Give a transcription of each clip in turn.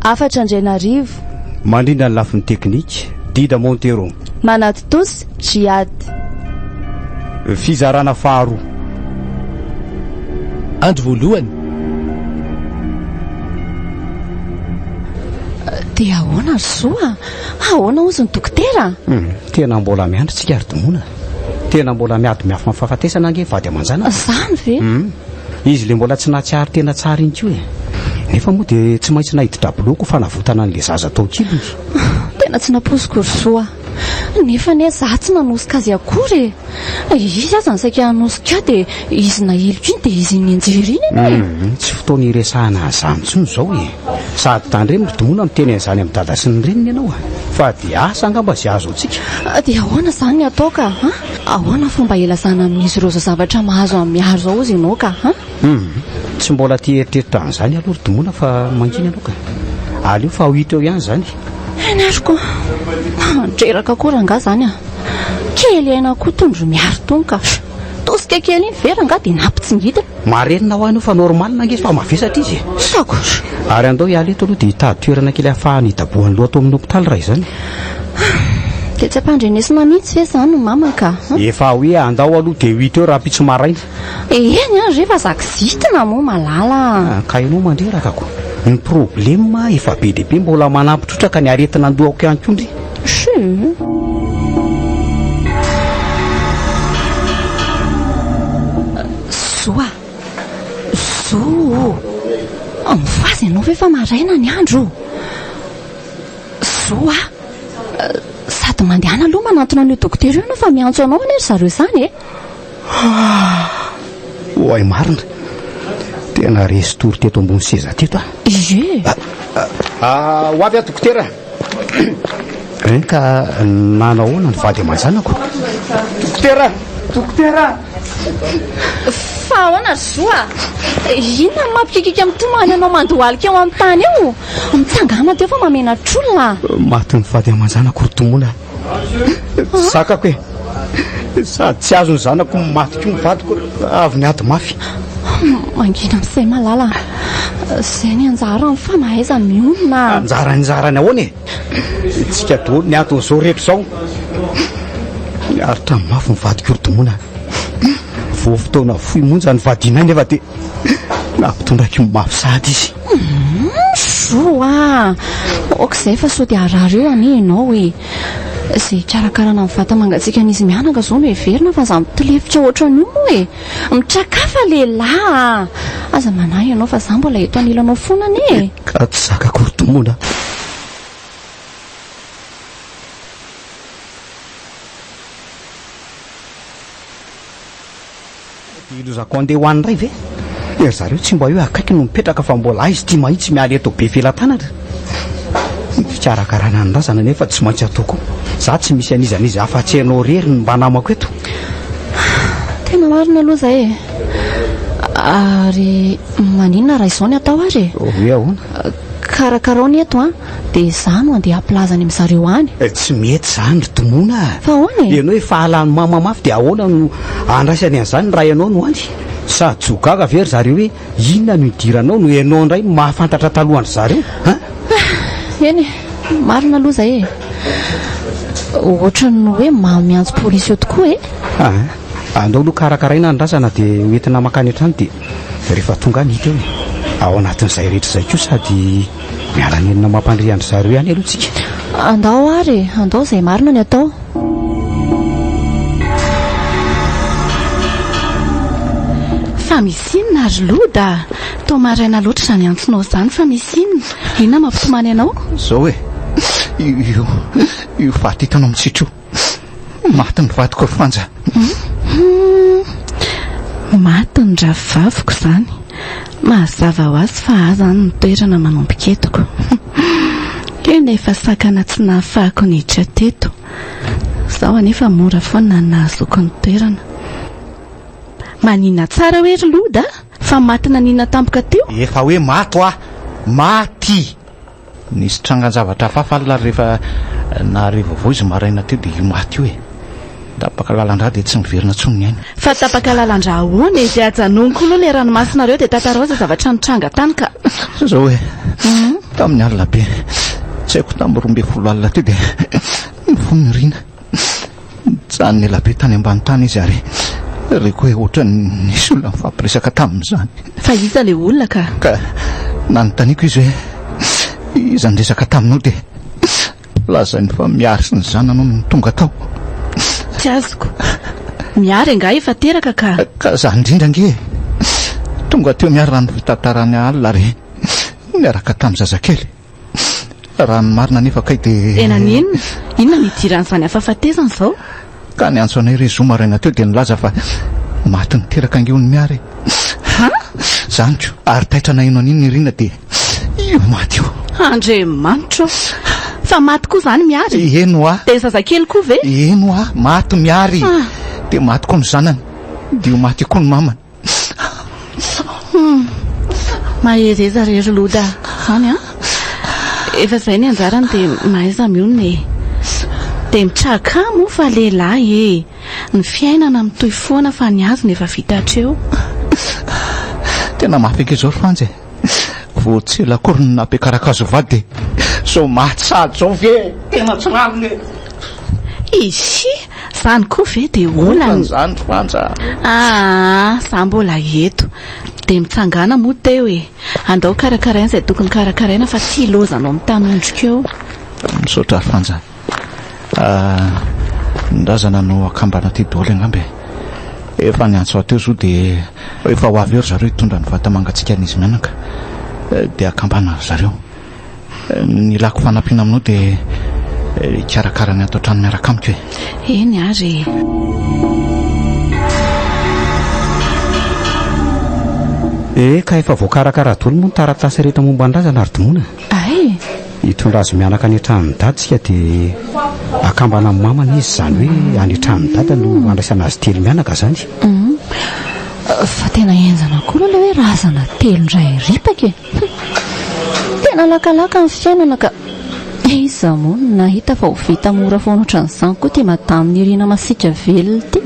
Hafatra Andrianarivo. Mandrindra ny lafiny teknika, Dida Montero. Manatontosa, Jihad. Fizarana faharoa. Andro voalohany. Dia ahoana ry Zo a? Ahoana hozy ny dokotera? Tena mbola miandry tsika ry Dmona. Tena mbola miady miafina amin'ny fahafatesana ange vady aman-janaka. Izany ve? Hum. Izy ilay mbola tsy nahatsiaro tena tsara iny koa e. Nefa moa dia tsy maintsy naidi-draboloko ho fanavotana an'ilay zaza tao an-kiliny izy. Tena tsy nampoiziko ry zo a! Nefa anie izaho tsy nanosika azy akory e! Izy aza no saika hanosika ahy dia izy nahiliko iny dia izy iny nianjera iny anie e! Hum. Tsy fotoana hiresahana an'izany intsony izao e! Sady tandremo ry Domono miteny an'izany amin'ny dada sy ny reniny ianao a! Fa dia asa angamba izay azo antsika? Dia ahoana izany ny atao ka a! Ahoana fomba hilazana amin'izy ireo izao zavatra mahazo an'i Mihary izao hozy ianao ka a! Hum! Tsy mbola te hieritreritra an'izany aho aloha ry Domono a fa mangina ianao ka! Aleo fa ho hita eo ihany izany e! Eny ary koa! Mandreraka koa rangahy izany a! Kely aina koa itony ry Mihary itony ka! Tosika kely iny vera angaha dia nampitsingitana. Marenina ho anao fa normal ange izy fa mavesatra izy e! Sakotra! Ary andao hiala eto aloha dia hitady toerana kely hahafahany hidabohan'ny loha ato amin'ny hopitaly raha izany. Dia tsy ampandrenesina mihitsy ve izany ny mama ka a! Efa hoe andao aloha dia huit heures ampitso maraina. Eny ary re fa za kizitina moa malala a! Ka ianao mandreraka ko! Ny problema efa be dia be mbola manampitrotraka ny aretina an-dohako ihany koa ndry. Zoa! Zo o! Mivaza ianao ve fa maraina ny andro o! Zoa! Sady mandehana aloha manantona an'io dokotera io ianao fa miantso anao anie ry zareo izany e! Oay marina! Tena resy tory teto ambony seza teto aho! Ie! Ho avy aho dokotera! Eny ka nanao ahoana ny vady aman-janako? Dokotera! Dokotera! Fa ahoana ry zo a? Inona no mampikiakiaka ny tomany anao mandohalika eo amin'ny tany eo? Mitsangàna teo fa mamenatr'olona a! Matin'ny vady aman-janako ry tomony a! Zakako e! Sady tsy azon'ny zanako ny maty koa ny vadiko avy niady mafy. Mangina amin'i Say Malala. Izay ny anjarany fa mahaiza mionona. Anjarany anjarany ahoana e? Tsika daholo ny antony izao rehetra izao. Niaritra mafy ny vadiko Orotomona. Vao fotoana fohy monja nivadianay nefa dia nampitondraiko mafy sahady izy. Zo ah! ok zay fa sao dia harary eo anie ianao e! Izay hikarakarana ny vata mangatsiakan'izy mianaka izao no heverina fa za mitilefitra ohatran'io moa e! Mitrakafa lehilahy a! Aza manahy ianao fa za mbola eto anilanao foana anie e! Ka tsy zaka akory domina! Dia hilozako handeha ho any indray ve? Dia ry zareo tsy mba hoe akaiky no mipetraka fa mbola aizy ity mahitsy miala eto be felatanana. Ny fikarakarana ny razana anefa tsy maintsy atao koa. Izaho tsy misy an'iza n'iza afa-tsy ianao irery no mba namako eto. Tena marina aloha izay e. Ary maninona raha izao ny atao ary e? Hoe ahoana? Karakarao ny eto an. Dia izaho no andeha hampilaza any amin'zareo any. Tsy mety izany ry Dmona a! Fa ahoana e? Ianao efa halan'i Mama mafy dia ahoana no handraisany an'izany raha ianao no any? Sady tsy ho gaga ve ry zareo hoe inona no idiranao no ianao indray no mahafantatra talohan-dry zareo an? Eny e! Marina aloha izay e! Ohatran'ny hoe mamo miantso polisy eo tokoa e! Aa! Andao aloha karakaraina ny razana dia hoentina mankany an-trano dia rehefa tonga any hita eo e! Ao anatin'izay rehetra izay koa sady. Miala nenina ho mampandria an-dry zareo ihany aloha tsika. Andao ary e, andao izay marina ny atao. Fa misy inona ary Loda? Toa maraina loatra izany antsonao izany fa misy inona? Inona mampitomany anao? Izao e, io, io faty hitanao mitsitr'io. Maty ny vadiko ry Fanja. Humm. Maty ny rahavaviko izany. Mahazava ho azy fa ahy izany no toerana manomboka eto ko. Io nefa sakana tsy nahafahako niditra teto. Izao anefa mora foana ny nahazoako ny toerana. Manina tsara hoe ry Loda fa maty nanina tampoka teo? Efa hoe maty hoa. Maty. Nisy trangan-javatra hafahafa alina ary rehefa nahare vaovao izy maraina teo dia io maty io e! Tapaka lalan-drà dia tsy miverina intsony ny aina. Fa tapaka lalan-drà ahoana e? Dia ajanoniko aloha ilay ranomasina reo dia tantarao izay zavatra nitranga tany ka! Sao izao e! Tamin'ny alina be, tsy haiko tamin'ny roa ambin'ny folo alina teo dia nifoha ny riana. Nijanona ela be tany ambany tany izy ary reko hoe ohatran'ny nisy olona nifampiresaka tamin'izany. Fa iza ilay olona ka? Ka nanontaniako izy hoe iza niresaka taminao dia lazainy fa Mihary sy ny zanany no tonga tao. Tsy azoko. Mihary angaha efa teraka ka. Ka za indrindra ange e! Tonga teo Mihary raha ny fitantarany alina ary niaraka tamin'ny zazakely. Raha ny marina anefa kay dia. Dia naninona? Inona no idiran'izany hafahafatesana izao? Ka niantso anay re zoma maraina teo dia nilaza fa maty niteraka ange hono Mià re. Ha? Zaniko, ary taitra naheno an'iny Nirina dia io maty io. Andriamanitra ô! Fa maty koa izany Miary? Eny ho'a. Dia ny zazakely koa ve? Eny ho'a, maty Miary. Dia maty koa ny zanany. Dia io maty io koa ny mamany. Mahereza re ry Loda zany an! Efa izay ny anjarany dia mahaiza mionona e! Dia mitraka moa fa lehilahy e! Ny fiainana mitohy foana fa ny azony efa vita hatreo. Tena mafy eky izao ry Fanja e! Vao tsy ela akory no nampiakarako azy ho vady e! Sao mahatsady zao ve e! Tena tsy rariny e! Ishi! Zany koa ve de olana? Olana zany ry Fanja a! Aa! Za mbola eto! De mitsangàna moa teo e! Andao karakaraina izay tokony karakaraina fa tsy hilozanao mitanondrika eo. Misaotra ry Fanja. Ny razana no akambana aty daholo angamba e. Efa ny antso aty zo dia efa ho avy eo ry zareo hitondra ny vata mangatsiakan'izy mianaka dia akambana ry zareo. Ny ilako fanampiana aminao dia hikarakara ny ato an-trano miaraka amiko e. Eny ary e. Eka, efa voakarakara daholo moa ny taratasy rehetra momba ny razana ry Dimoana. Ay! Hitondra azy mianaka any an-tranon'i Dada isika dia akambana amin'ny mamany izy, izany hoe any an-tranon'i Dada no handraisana azy telo mianaka izany. Fa tena henjana koa aloha ilay hoe razana telo indray ripaka e! Tena lakalaka ny fiainana ka! Iza moa no nahita fa ho vita mora foana ohatran'izany koa ity Madame Niryna masiaka velona ity?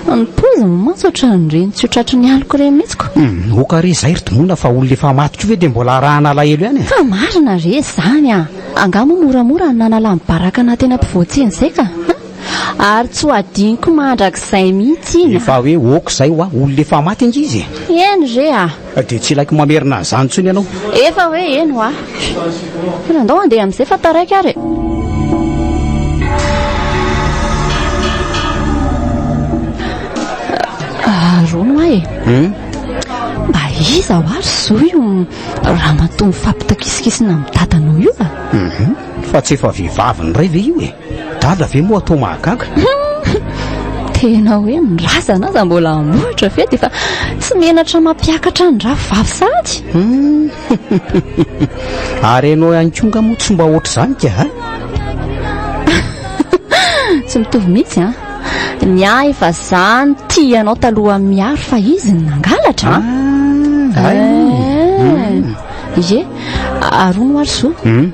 Haa ny poiziny mantsy ohatran'ny ireny tsy ho tratry ny aloka ireny mihitsy ko. Hum, ok re izay ry Dmona fa olona efa maty koa ve dia mbola arahana alahelo ihany e? Fa marina re izany a! Angaha moa moramora ny nanala ny baraka naha tena mpivoatsia an'izay ka! Hum, ary tsy ho hadinoko mandrakizay mihitsy iny a! Efa hoe ok izay hoa, olona efa maty ange izy e! Eny re a! Dia tsy ilaiko mamerina an'izany intsony ianao. Efa hoe eny hoa. Tena ndao handeha amin'izay fa taraiky ary e. Rono hoa e. Hum. Mba iza hoa ry zo io ramatoa mifampitakisinkisina amin'ny dadanao io a? Hum. Fa tsy efa vehivavy niray ve io e? Dada ve moa atao mahagaga? Tena hoe ny razana aza mbola hamohitra ve dia fa tsy menatra mampiakatra ny rafy vavy sahady? Hmm. Ary ianao ihany koa nga moa tsy mba ohatr'izany ka ha? Tsy mitovy mihitsy an. Ny ahy efa zany tia anao talohan'ny miaro fa izy ny nangalatra. Ah, eh. Ye, ary hono ary zo hmm?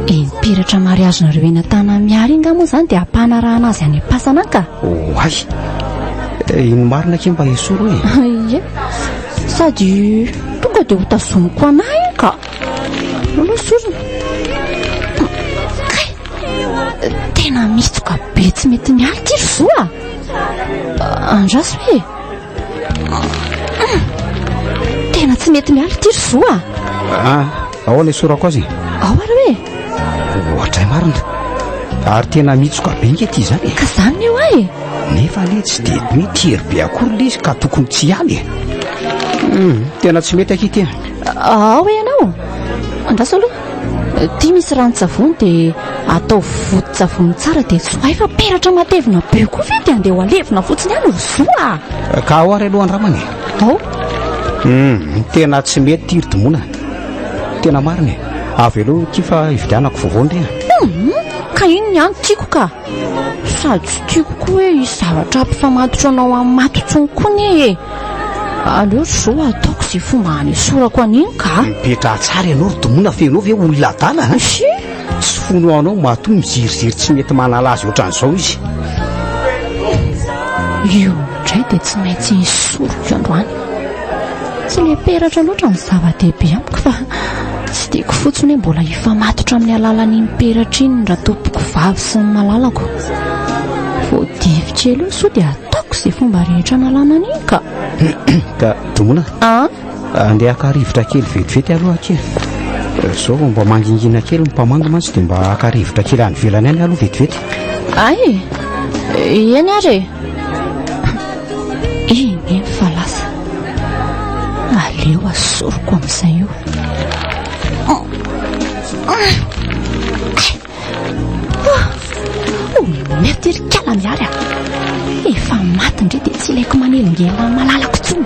dia mipiratra mariazy nareo eny an-tanana miary inga moa izany dia hampanarahana azy any am-pasana an ka oay oh, eh, ino marina ke mba esoro e ye sady tonga dia hotazoniko anahy an ka aloha sorona kay tena mitsoka be tsy mety mialy ty ry zoa andraso e Tena tsy mety miala ity ry zoa. Ah, ahoana isorako azy? Ao ary hoe. Ohatray marina. Ary tena mitsoka be nge ity izany. Ka izany eo ahy. Nefa anie tsy dia mety hery be akory ilay izy ka tokony tsy hiala e. Hmm, tena tsy mety aky ity. Ao ianao. Andraso aloha. Ity misy ranon-tsavony dia atao voton-tsavony tsara dia tsohay fa peratra matevina be koa ve dia andeha ho alevina fotsiny any ry zoa ah. Ka ao ary aloha andramana e. Ao. Hmm, tena tsy mety ity ry Dimona. Tena marina e. Avy aloha ity fa hividianako vaovao ndry ah. Hmm, ka iny ny any tiako ka. Sady tsy tiako koa hoe hisy zavatra hampifamatotro anao amin'ny maty intsony koa anie e! Aleo ry zo ataoko izay fomba hanesorako an'iny ka! Mipetraha tsara ianao ry Domina fa ianao ve olona adala a! Sia! Tsy fono anao matoa miziriziry tsy mety manala azy ohatran'izao izy. Io indray dia tsy maintsy esoriko androany. Tsy le peratra loatra no zava-dehibe amiko fa tsy tiako fotsiny hoe mbola hifamatotra amin'ny alalan'iny peratra iny ny ratompoko vavy sy ny malalako. Vao divy kely eo sao dia ataoko izay fomba rehetra analana an'iny ka. Ka Dona, An? andeha haka rivotra kely vetivety aloha akia. Izao vao mba mangingina kely ny mpamangy mantsy dia mba haka rivotra kely any ivelany any aloha vetivety. Ay e, eny ary e. Eny eny fa lasa Aleo asoriko amin'izay io Mety ry kala mihary ah Efa maty ndry dia tsy ilaiko manelingelina ny malalako intsony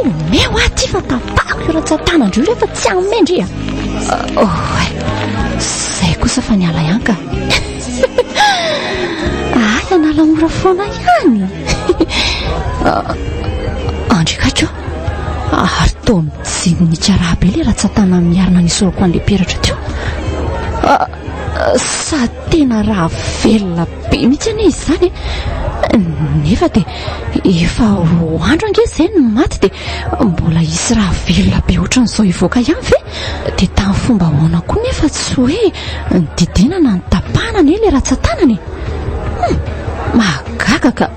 Omeo aho ity fa tapahako io ratsan-tanandro io rehefa tsy hanome ndry ah Oh, Izay kosa fa niala ihany ka Ahy anala mora foana ihany. Andry Kajo, ary toa mijery ny karaha be ilay ratsatana miarina ny soroko an'ilay peratra teo. Ah, sa tena raha velona be mihitsy anie izany e. Nefa dia efa roa andro ange izay no maty dia mbola hisy raha velona be ohatran'izao hivoaka ihany ve? Dia tamin'ny fomba ahoana koa nefa tsy hoe nididiana na nitapahana anie ilay ratsan-tanany? Hmm, mahagaga ka!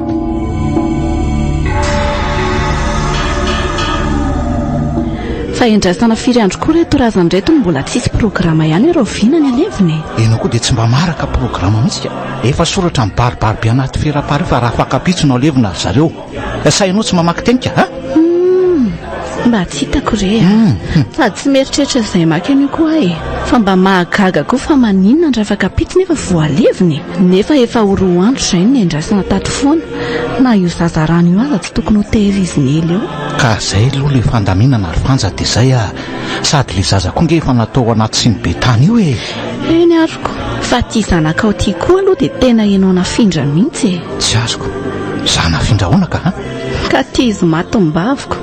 Fa endrasana firy andro koa reto razana reto no mbola tsisy programa ihany ireo vina ny alevina e. Ianao koa dia tsy mba maraka programa mihitsy ka. Efa soratra mibaribary be anaty fera pare fa raha fankapitsonao alevina ry zareo. Sahinao tsy mamaky teny ka? Hmm, mba tsy hitako re ah. hmm, hmm. Fa tsy mieritreritra izay maka an'io koa e. Fa mba mahagaga koa fa maninona ny rafakapity nefa voaleviny. Nefa efa ho roa andro izay ny endrasana tato foana. Na io zazarano io aza tsy tokony ho tehiriziny ela eo. Ka izay aloha ilay fandaminana ry Fanja dia izay ah. Sady ilay zaza koa nge efa natao anaty siny be tany io e. Eny ariko. Fa tia zanakao tia koa aloha dia tena ianao nafindra mihitsy e. Tsy azoko. Za nafindra ahoana ka an? Ka tia izy maty ny baviko.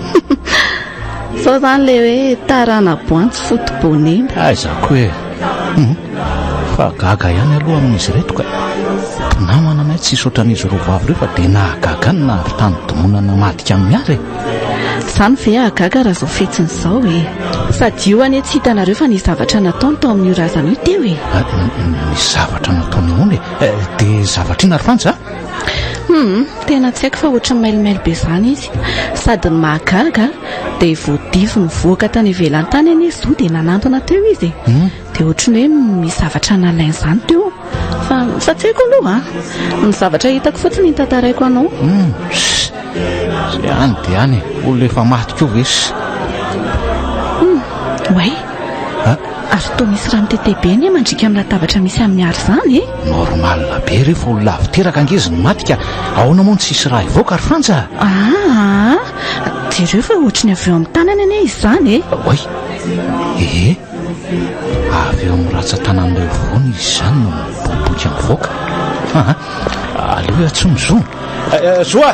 Zao zany le hoe tarana boantsy foto bonena. Aiza ko e. Hum. Fa gaga ihany aloha amin'izy reto ka. Mpinamana anay tsisy ohatran'izy roa vavy reo fa dia nahagaga ny nahavy tany domoana namadika an'i Miara e. Zany ve hahagaga raha zao fetsiny zao e. Sady io anie tsy hitanareo fa nisy zavatra nataony tao amin'io razana io teo e. Ny zavatra nataony ahoana e. Eh, dia zavatra inona ry Fantsy a? Hum, tena tsy haiko fa ohatry ny mailimaily be izany izy. Sady ny mahagaga dia voadivo nivoaka tany ivelany tany anie izy dia nanantona teo izy e. Hmm? Dia ohatry ny hoe misy zavatra nalainy izany teo. Fa fa tsy haiko aloha a. Ah. Ny zavatra hitako fotsiny ny tantaraiko anao. Hmm, Zay any dia any, olona efa maty koa ve? Hmm, way. a! Ary toa misy rano tete be anie mandriaka amin'ny latabatra misy an'i Mihary izany e! Normal be rehefa olona avy teraka ange izy no maty ka ahoana moa no tsisy rà hivoaka ry Frantsa a! Aa! Jereo fa ohatry ny avy eo amin'ny tanany anie izany e! Oay! Ee! Avy eo amin'ny ratsan-tanan'ilay voany izy izany no miboboika mivoaka! Aa! Aleo hiantsoa ny zo! Zo a!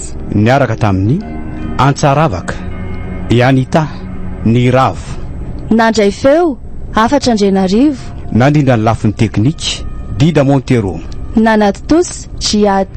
Niaraka tamin'i Antsaravaka i Anita ny ravo. Nandray feo, hafatra Andrianarivo. Nandrindra ny lafiny teknika, Dida Montero. Nanaditosa, Jiad.